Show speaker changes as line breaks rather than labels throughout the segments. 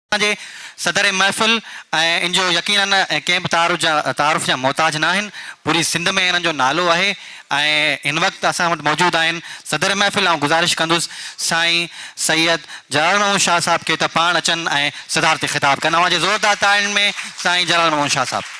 اسان جي صدر محفل ۽ ان جو يقينن ڪنهن به تعارف جا محتاج نه آهن، پوري سنڌ ۾ انهن جو نالو آهي ۽ هن وقت اسان وٽ موجود آهن. صدر محفل آئون گذارش ڪندس سائين سيد جلال محمود شاهه صاحب کي ته پاڻ اچن ۽ صدارتي خطاب ڪن اوهان جي زوردار تاڙين ۾ سائين جلال محمود شاهه صاحب.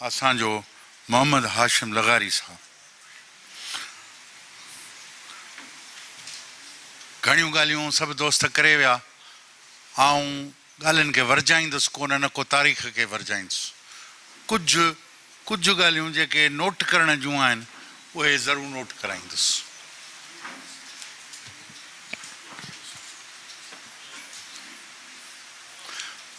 اسان جو محمد هاشم لغاري صاحب گهڻيون ڳالهيون سڀ دوست ڪري ويا، آئون ڳالهين کي ورجائيندس ڪونه نه ڪو تاريخ کي ورجائيندس. ڪجهه ڪجهه ڳالهيون جيڪي نوٽ ڪرڻ جون آهن اهي ضرور نوٽ ڪرائيندس.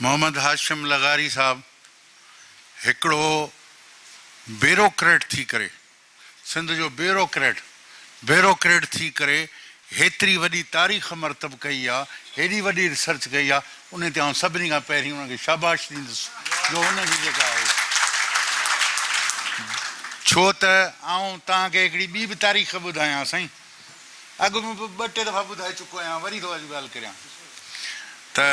محمد هاشم لغاري صاحب. هڪڙو بيروڪريٽ ٿي ڪري، سنڌ جو بيروڪريٽ، بيروڪريٽ ٿي ڪري هيتري وڏي تاريخ مرتب ڪئي آ، هيڏي وڏي ريسرچ ڪئي آ، ان تي آئون سڀني کان پهرين ان کي شاباش ڏيندس جو ان جي جيڪا آهي ڇو ته آئون توهان کي هڪڙي ٻي به تاريخ ٻڌايان سائين، اڳ ۾ به ٻه ٽي دفعا ٻڌائي چڪو آهيان، وري ٿو اڄ ڳالهه ڪريان ته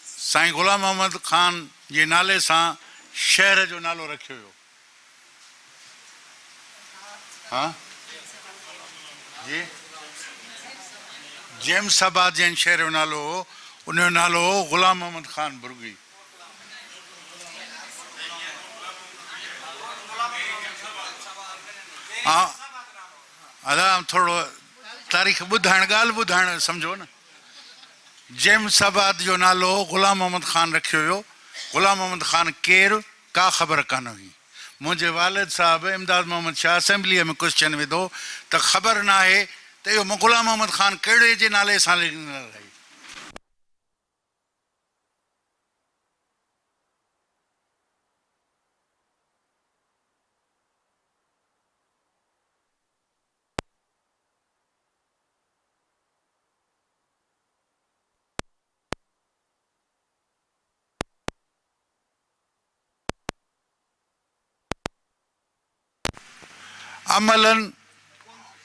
سائين غلام محمد خان جي نالي سان شهر جو نالو رکيو ويو ها جي جيمس آباد جنهن شهر جو نالو هو ان جو نالو هو غلام محمد خان برگي آئون ٿورڙو تاريخ ٻڌائڻ ڳالهه ٻڌائڻ سمجهو نه جيمس آباد جو نالو غلام محمد خان رکيو ويو. غلام محمد خان ڪير؟ ڪا خبر ڪانه هئي. منهنجي والد صاحب امداد محمد شاهه اسيمبليء ۾ ڪوئسچن وڌو ته خبر ناهي ته اهو غلام محمد خان ڪهڙي جي نالي سان لڳندڙ آهي. عملاً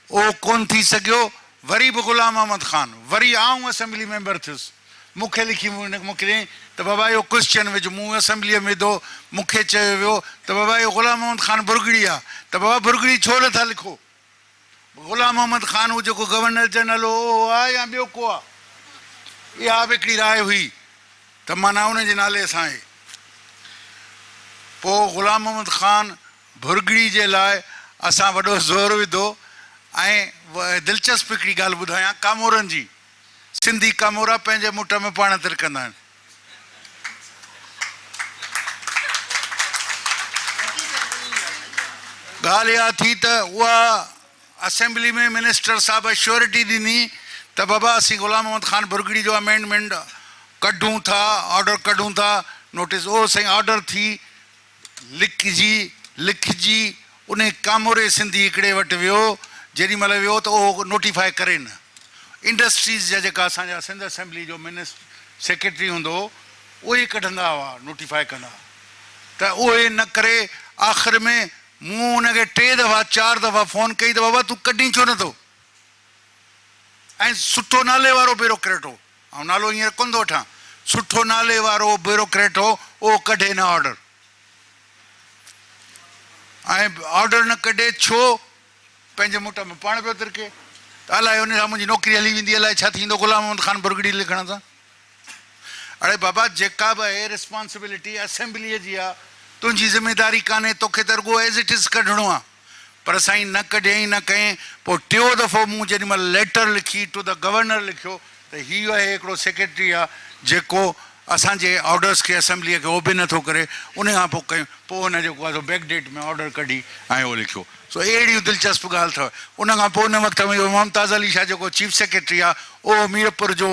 اهو ڪونه ٿي سگهيو، وري به غلام محمد خان، وري آئون اسيمبلي ميمبر ٿيس. مون کي لکي موڪليائين ته بابا اهو ڪرسچن وجهه مون اسيمبليء ۾ وڌو، مون کي چيو ويو ته بابا اهو غلام محمد خان برگڙي آ ته بابا برگڙي ڇو نه ٿا لکو؟ غلام محمد خان هو جيڪو گورنر جنرل هو اهو آ يا ٻيو ڪو آ؟ اها به هڪڙي راء هئي ته معنيٰ ان جي نالي سان آهي. پوء غلام محمد خان برگڙي جي لاء اسان وڏو زور وڌو ۽ دلچسپ هڪڙي ڳالهه ٻڌايان ڪامورن جي، سنڌي ڪامورا پنهنجي مٺ ۾ پاڻ ترڪندا آهن. ڳالهه اها ٿي ته اها اسيمبلي ۾ منسٽر صاحب شيورٽي ڏني ته بابا اسين غلام محمد خان ڀرڳڙي جو امينڊمينٽ ڪڍون ٿا، آرڊر ڪڍون ٿا، نوٽيس اهو سائين آرڊر ٿي لکجي لکجي انهي ڪاموري سنڌي هڪڙي وٽ ويو جيڏي مهل ويو ته اهو نوٽيفائي ڪري نه انڊسٽريز جا جيڪا اسان جا سنڌ اسيمبلي جو منس سيڪريٽري هوندو هو اهي ڪڍندا هئا نوٽيفائي ڪندا ته اهي نه ڪري آخر ۾ مون ان کي ٽي دفعا چار دفعا فون ڪئي ته بابا تون ڪڍين ڇو نه ٿو ۽ سٺو نالي وارو بيروڪريٽ هو آئون نالو هينئر ڪونه ٿو وٺان، سٺو نالي وارو بيوروڪريٽ هو، اهو ڪڍي نه آرڊر. ۽ آرڊر نه ڪڍي ڇو؟ پنهنجي موٽ ۾ پاڻ پيو ترڪي ته الائي ان سان منهنجي نوڪري هلي ويندي، الائي ڇا ٿيندو غلام محمد خان برگڙي لکڻ سان. اڙي بابا جيڪا به اهي رسپانسبلٽي اسيمبليء جي آ، تنهنجي ذميداري ڪانهي، توکي ته رڳو As it is ڪڍڻو آ. پر سائين نه ڪڍيائين نه ڪئين، پوء ٽيو دفعو مون جيڏي مھل ليٽر لکي ٽو دي گورنر لکيو ته ھي اھي ھڪڙو سيڪريٽري آ جيڪو اسان جي آرڊرس کي اسيمبليء کي اوبي نٿو ڪري ان کان پوء ڪيون پوء ھن جيڪو آ سو بيڪ ڊيٽ ۾ آرڊر ڪڍي ۽ اھو لکيو سو اھڙيون دلچسپ ڳالھ تھ ان کان پوء ان وقت ۾ اھو ممتاز علي شاھ جيڪو چيف سيڪريٽري آ اھو ميرپور جو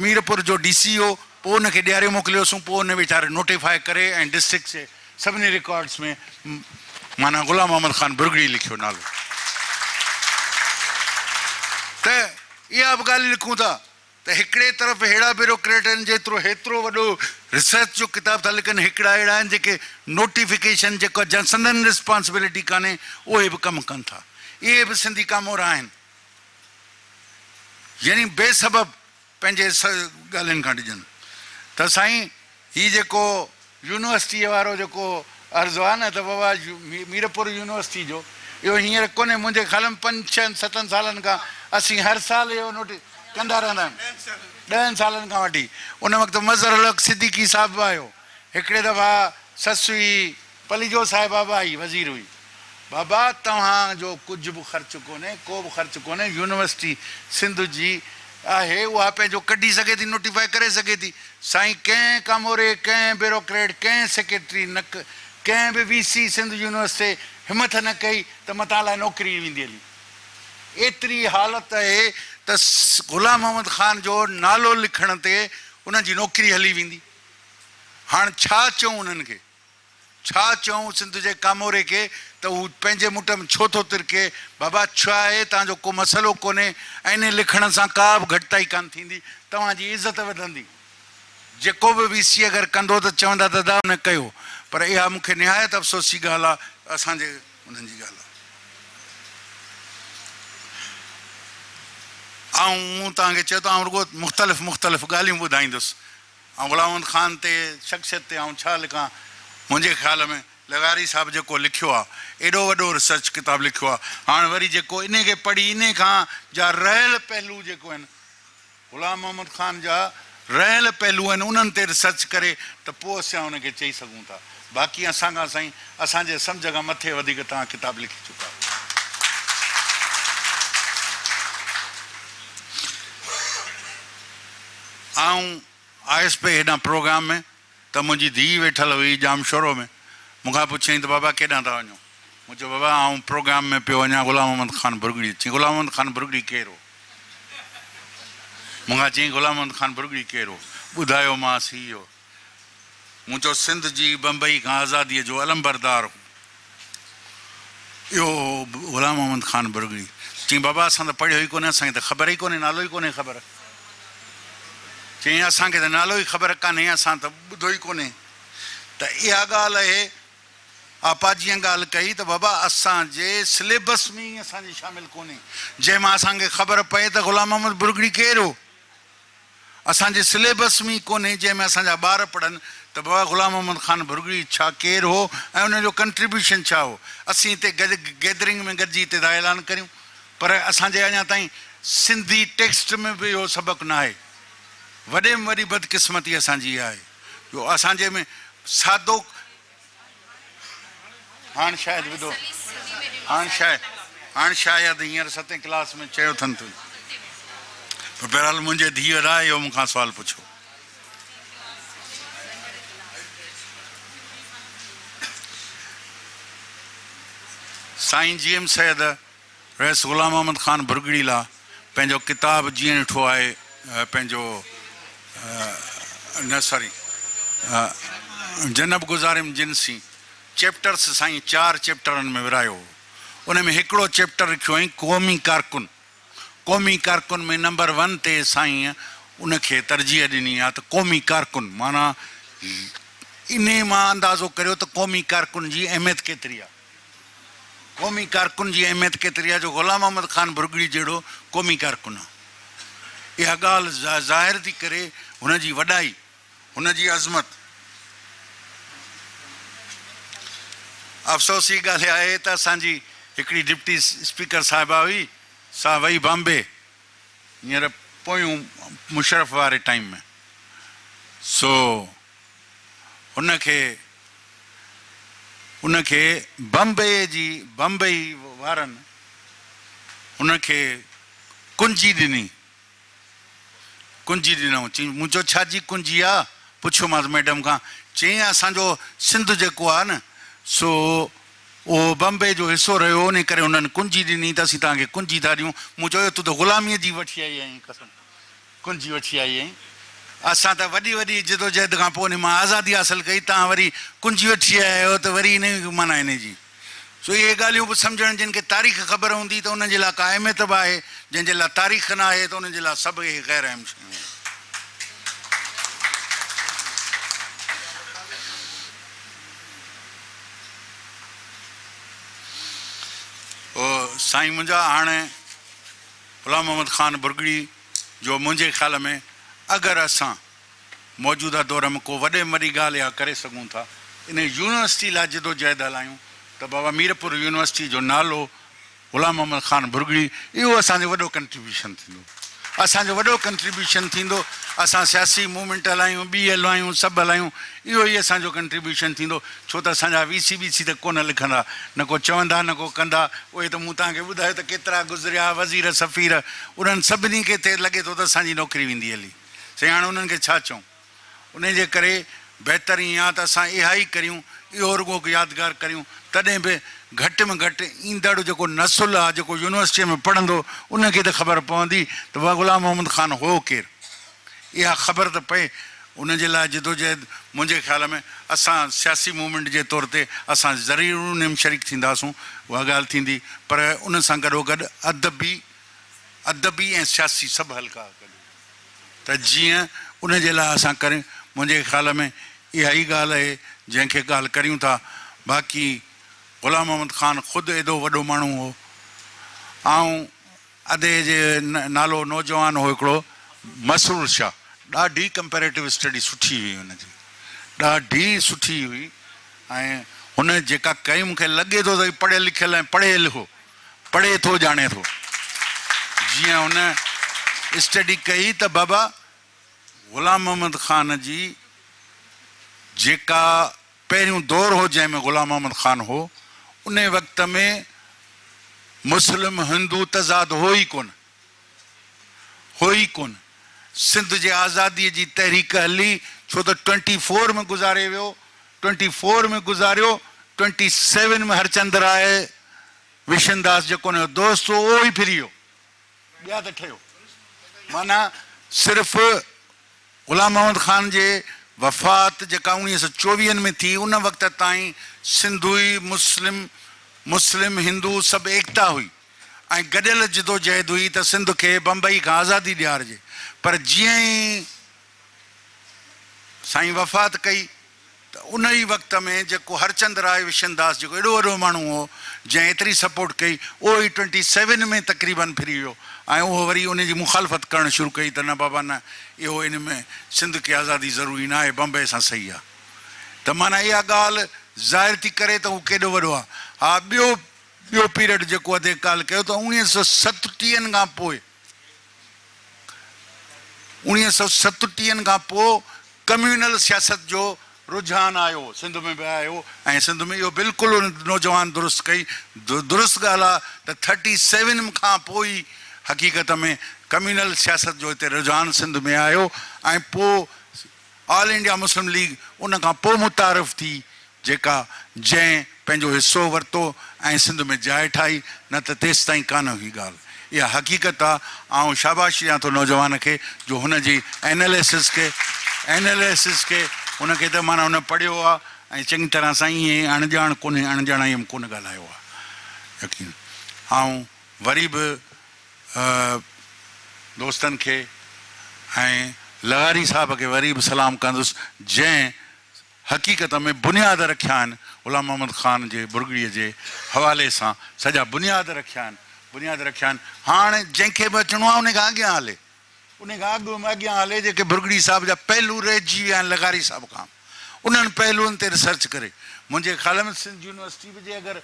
ميرپور جو ڊي سي ھو پوء ان کي ڏياري موڪليوسون پوء ان ويچاري نوٽيفاء ڪري ۽ ڊسٽرڪٽ جي سڀني رڪارڊس ۾ معنيٰ غلام محمد خان برگڙي لکيو نالو ته اها به ڳالهه لکون ٿا ته هڪڙي طرف اهڙا بيروڪريٽ آهن جيترو هيترو وڏو ريسرچ جو ڪتاب ٿا لکن هڪڙا اهڙا آهن جيڪي نوٽيفڪيشن جيڪا جا سندن ريسپانسبلٽي ڪانهي اهي به ڪم ڪن ٿا اهي به سنڌي ڪامورا آهن يعني بي سبب پنهنجي ڳالهين کان ڊڄن ته سائين هي جيڪو يونيورسٽيء وارو جيڪو عرض آ نه ته بابا ميرپور يونيورسٽيء جو اهو هينئر ڪونهي منهنجي خيال ۾ پنج ڇهن ستن سالن کان اسين هر سال اهو نوٽيس ڪندا رهندا آهيون ڏهن سالن کان وٺي ان وقت مظهرالحق صديقي صاحب به آيو هڪڙي دفعا سسوي پليجو صاحب بابا ئي وزير هئي. بابا توهان جو ڪجهه به خرچ ڪونهي، ڪو به خرچ ڪونهي، يونيورسٽي سنڌ جي آهي، اها پنهنجو ڪڍي سگهي ٿي، نوٽيفائي ڪري سگهي ٿي. سائين ڪنهن ڪاموري، ڪنهن بيروڪريٽ، ڪنهن سيڪريٽري نه ڪه ڪنهن به وي سي سنڌ يونيورسٽي همٿ نه ڪئي ته متان لاء نوڪري ويندي هلي. ايتري حالت اهي ته غلام محمد خان جو نالو لکڻ تي انهن جي نوڪري هلي ويندي. هاڻ ڇا چئون انهن کي. ڇا چئون سنڌ جي ڪاموري کي ته هو پنهنجي مٽ ۾ ڇو ٿو ترڪي؟ بابا ڇا اهي توهان جو ڪو مسئلو ڪونهي ائين لکڻ سان ڪا به گهٽتائي ڪانه ٿيندي توهان جي عزت وڌندي جيڪو به وي سي اگر ڪندو ته چوندا ته ادا هن ڪيو پر اها مون کي نهايت افسوس جي ڳالهه آهي ته اسان جي انهن جي ڳالهه آئون مون توهان کي چيو ته آئون رڳو مختلف مختلف ڳالهيون ٻڌائيندس ۽ غلام محمد خان تي شخصيت تي آئون ڇا لکان منهنجي خيال ۾ لغاري صاحب جيڪو لکيو آ ايڏو وڏو ريسرچ ڪتاب لکيو آ هاڻ وري جيڪو انهي کي پڙهي انهي کان جا رهيل پهلو جيڪو آهن غلام محمد خان جا رهيل پهلو آهن انهن تي ريسرچ ڪري ته پو اسيان ان کي چئي سگهون ٿا باقي اسان کان سائين اسان جي سمجهه کان مٿي وڌيڪ توهان ڪتاب لکي چڪا آهيو. آئون آيس پئي هيڏانهن پروگرام ۾ ته منهنجي ڌيء ويٺل هئي ڄامشورو ۾. مون کان پڇيائين ته بابا ڪيڏانهن ٿا وڃو؟ مون چيو بابا آئون پروگرام ۾ پيو وڃان غلام محمد خان ڀرڳڙيء. چيائين غلام محمد خان ڀرڳڙي ڪير هو؟ مون کان چيائين غلام محمد خان ڀرڳڙي ڪير هو؟ ٻڌايومانس هي هو. مون چيو سنڌ جي بمبئي کان آزاديء جو علمبردار هو اهو هو غلام محمد خان برگڙي. چيائين بابا اسان ته پڙهيو ئي ڪونهي اسان کي ته خبر ئي ڪونهي نالو ئي ڪونهي خبر. چيائين اسان کي ته نالو ئي خبر ڪانهي اسان ته ٻڌو ئي ڪونهي ته اها ڳالهه اهي آپاجيان ڳالهه ڪئي ته بابا اسان جي سليبس ۾ ئي اسان جي شامل ڪونهي جنهن مان اسان کي خبر پئي ته غلام محمد برگڙي ڪير هو. اسان جي سليبس ۾ ئي ڪونهي جنهن ۾ اسان جا ٻار پڙهن ته بابا غلام محمد خان ڀرڳڙي ڇا ڪير هو ۽ ان جو ڪنٽريبيوشن ڇا هو. اسين هتي گڏ گيدرنگ ۾ گڏجي هتي ٿا اعلان ڪريون پر اسان جي اڃا تائين سنڌي ٽيڪسٽ ۾ به اهو سبق ناهي. وڏي ۾ وڏي بدقسمتي اسان جي اها آهي جو اسان جي ۾ سادو هاڻ شايد ٻڌو هاڻ شايد هاڻ شايد هينئر ستين ڪلاس ۾ چيو اٿن تون پر بهرحال منهنجي ڌيء ادا اهو مون کان سوال پڇو سائين جي ايم سيد رئيس غلام محمد خان ڀرڳڙي لا پنهنجو ڪتاب جيئن ڏٺو آهي پنهنجو نه ساري جنب گذاريم جن سين چيپٽرس سائين چار چيپٽرن ۾ ورهايو هو ان ۾ هڪڙو چيپٽر رکيو هئائين قومي ڪارڪن قومي ڪارڪن ۾ نمبر ون تي سائين ان کي ترجيح ڏني آ ته قومي ڪارڪن معنيٰ انهي مان اندازو ڪريو ته قومي ڪارڪن جي اهميت ڪيتري آ. قومي ڪارڪن جي اهميت ڪيتري آهي جو غلام محمد خان ڀرڳڙي جهڙو قومي ڪارڪن آهي. اها ڳالهه ظاهر ٿي ڪري هن جي وڏائي، هن جي عظمت. افسوس جي ڳالهه آهي ته اسان جي هڪڙي ڊپٽي اسپيڪر صاحبه هئي، سا وئي بامبي هينئر پويون مشرف واري ٽائيم ۾. سو. هن کي ان کي بمبئيء جي بمبئي وارن هن کي ڪنجي ڏني. ڪنجي ڏنائون. چيائين مون چيو ڇا جي ڪنجي آ؟ پڇيومانس ميڊم کان. چيائين اسان جو سنڌ جيڪو آ نه سو اهو بمبئي جو حصو رهيو انهي ڪري هنن ڪنجي ڏني ته اسين توهان کي ڪنجي ٿا ڏيون. مون چيو ايو تون ته غلاميء جي وٺي آئي آهين قسم. ڪنجي وٺي آئي ۽ اسان ته وڏي وڏي جدوجهد کان پوء انهي مان آزادي حاصل ڪئي، توهان وري ڪنجي وٺي آيا آهيو ته وري انهي ۾ ڪي معنيٰ انهي جي سو اهي ڳالهيون به سمجهڻ جن کي تاريخ خبر هوندي ته انهن جي لاء ڪا اهميت به آهي، جنهن جي لاء تاريخ نه آهي ته انهن جي لاء سڀ اهي غير اهم شيون آهن. او سائين منهنجا هاڻي غلام محمد خان برگڙي جو منهنجي خيال ۾ اگر اسان موجوده دور ۾ ڪو وڏي ۾ وڏي ڳالهه اها ڪري سگهون ٿا ان يونيورسٽي لاء جدوجهد هلايون ته بابا ميرپور يونيورسٽي جو نالو غلام محمد خان ڀرڳڙي اهو اسان جو وڏو ڪنٽريبيوشن ٿيندو اسان جو وڏو ڪنٽريبيوشن ٿيندو اسان سياسي موومينٽ هلايون ٻي هلايون سڀ هلايون اهو ئي اسان جو ڪنٽريبيوشن ٿيندو ڇو ته اسان جا ويسي ٻيسي ته ڪونه لکندا، نه ڪو چوندا نه ڪو ڪندا، اهي ته مون توهان کي ٻڌايو ته ڪيترا گذريا، وزير سفير، انهن سڀني کي ته لڳي ٿو ته اسان جي نوڪري ويندي هلي، سائين هاڻ انهن کي ڇا چئون؟ انهيء جي ڪري بهتر ائين آ ته اسان اها ئي ڪريون، اهو رڳو هڪ يادگار ڪريون، تڏهن به گهٽ ۾ گهٽ ايندڙ جيڪو نسل آ، جيڪو يونيورسٽيء ۾ پڙهندو، ان کي ته خبر پوندي ته غلام محمد خان هو ڪير؟ اها خبر ته پئي ان جي لاء جدوجهد منهنجي خيال ۾ اسان سياسي موومينٽ جي طور تي اسان ضرير انهي م شريڪ ٿينداسون اها ڳالهه ٿيندي پر ان سان گڏوگڏ ادبي ادبي ۽ سياسي سڀ حلقا گڏ ته جيئن ان جي لاء اسان ڪري منهنجي خيال ۾ اها ئي ڳالهه اهي جنهن کي ڳالهه ڪريون ٿا باقي غلام محمد خان خود ايڏو وڏو ماڻهو هو آئون ادي جي نالو نوجوان هو هڪڙو مسرور شاهه ڏاڍي ڪمپيريٽو اسٽڊي سٺي هئي هن جي ڏاڍي سٺي هئي ۽ هن جيڪا ڪئي مون کي لڳي ٿو ته هي پڙهيل لکيل ۽ پڙهيل هو پڙهي ٿو ڄاڻي ٿو جيئن هن اسٽڊي ڪئي ته بابا غلام محمد خان جي جيڪا پهريون دور هو جنهن ۾ غلام محمد خان هو انهي وقت ۾ مسلم هندو تضاد هو ئي ڪونه هو ئي ڪونه سنڌ جي آزادي جي تحريڪ هلي ڇو ته ٽوئنٽي فور ۾ گذاري ويو ٽوئنٽي فور ۾ گذاريو ٽوئنٽي سيون ۾ هرچند راء وشن داس جيڪو انهي جو دوست هو اهو ئي ڦري ويو ٻيا ته ٺهيو معنيٰ صرف غلام محمد خان جي وفات جيڪا اوڻيهه سئو چوويهن ۾ ٿي ان وقت تائين سنڌوئي مسلم، مسلم هندو سڀ ايڪتا هئي ۽ گڏيل جدوجهد هئي ته سنڌ کي بمبئي کان آزادي ڏيارجي پر جيئن ئي سائين وفات ڪئي. ته ان ئي وقت ۾ جيڪو هرچند راء وشن داس جيڪو ايڏو وڏو ماڻهو هو جنهن ايتري سپورٽ ڪئي اهو ئي ٽوئنٽي سيون ۾ تقريبن ڦري ويو ۽ اهو وري ان جي مخالفت ڪرڻ شروع ڪئي ته نه بابا نه اهو ان ۾ سنڌ کي آزادي ضروري نه آهي بمبئي سان صحيح آهي ته معنيٰ اها ڳالهه ظاهر ٿي ڪري ته هو ڪيڏو وڏو آهي ها ٻيو ٻيو پيرڊ جيڪو اڌي ڪالهه ڪيو ته اوڻيهه سؤ ستٽيهن کان پوء اڻيهه سؤ ستٽيهن کان پوء ڪميونل سياست جو رجحان آيو، سنڌ ۾ به آيو ۽ سنڌ ۾ اهو بلڪل ان نوجوان درست ڪئي. درست ڳالهه آ ته ٿرٽي سيون کان پوء ئي حقيقت ۾ ڪميونل سياست جو هتي رجحان سنڌ ۾ آيو ۽ پوء آل انڊيا مسلم ليگ ان کان پوء متعارف ٿي جيڪا جنهن پنهنجو حصو ورتو ۽ سنڌ ۾ جاء ٺاهي نه ته تيستائين ڪانه هئي ڳالهه اها حقيقت آ آئون شاباشي ڏيان ٿو نوجوان کي جو هن جي ايناليسز کي Analysis کي ان کي ته معنيٰ هن پڙهيو آ ۽ چڱي طرح سان ائين اڻ ڄاڻ ڪونهي اڻ ڄاڻائيء ۾ ڪونه ڳالهايو آ يقين آئون وري به دوستن کي ۽ لغاري صاحب کي وري به سلام ڪندس جنهن حقيقت ۾ بنياد رکيا آهن غلام محمد خان جي ٻرڳڙي جي حوالي سان سڄا بنياد رکيا آهن بنياد رکيا آهن هاڻ جنهن کي به اچڻو آهي ان کان اڳيان هلي انهيء کان اڳ ۾ اڳيان هلي جيڪي ڀرڳڙي صاحب جا پهلو رهجي ويا آهن لغاري صاحب کان انهن پهلوئن تي ريسرچ ڪري منهنجي خيال ۾ سنڌ يونيورسٽي به جي اگر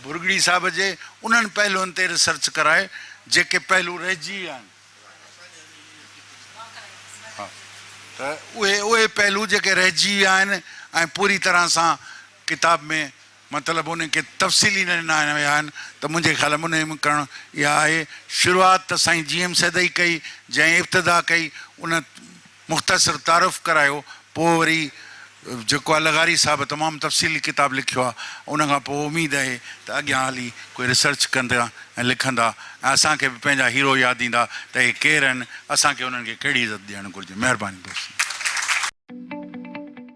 ڀرڳڙي صاحب جي انهن پهلوئن تي ريسرچ ڪرائي جيڪي پهلو رهجي ويا آهن ته اهي اهي پهلو جيڪي رهجي ويا آهن ۽ پوري طرح سان ڪتاب ۾ مطلب انهن کي تفصيلي نه ڏنا ويا آهن ته منهنجي خيال ۾ انهي ۾ ڪرڻ اها آهي شروعات ته سائين جي ايم سيد ئي ڪئي جنهن ابتدا ڪئي ان مختصر تعارف ڪرايو پوء وري جيڪو آهي لغاري صاحب تمام تفصيلي ڪتاب لکيو آهي ان کان پوء اميد اهي ته اڳيان هلي ڪوئي ريسرچ ڪندا ۽ لکندا ۽ اسان کي به پنهنجا هيرو ياد ايندا ته اهي ڪير اهن اسان کي انهن کي ڪهڙي عزت ڏيڻ گهرجي مهرباني دوستو.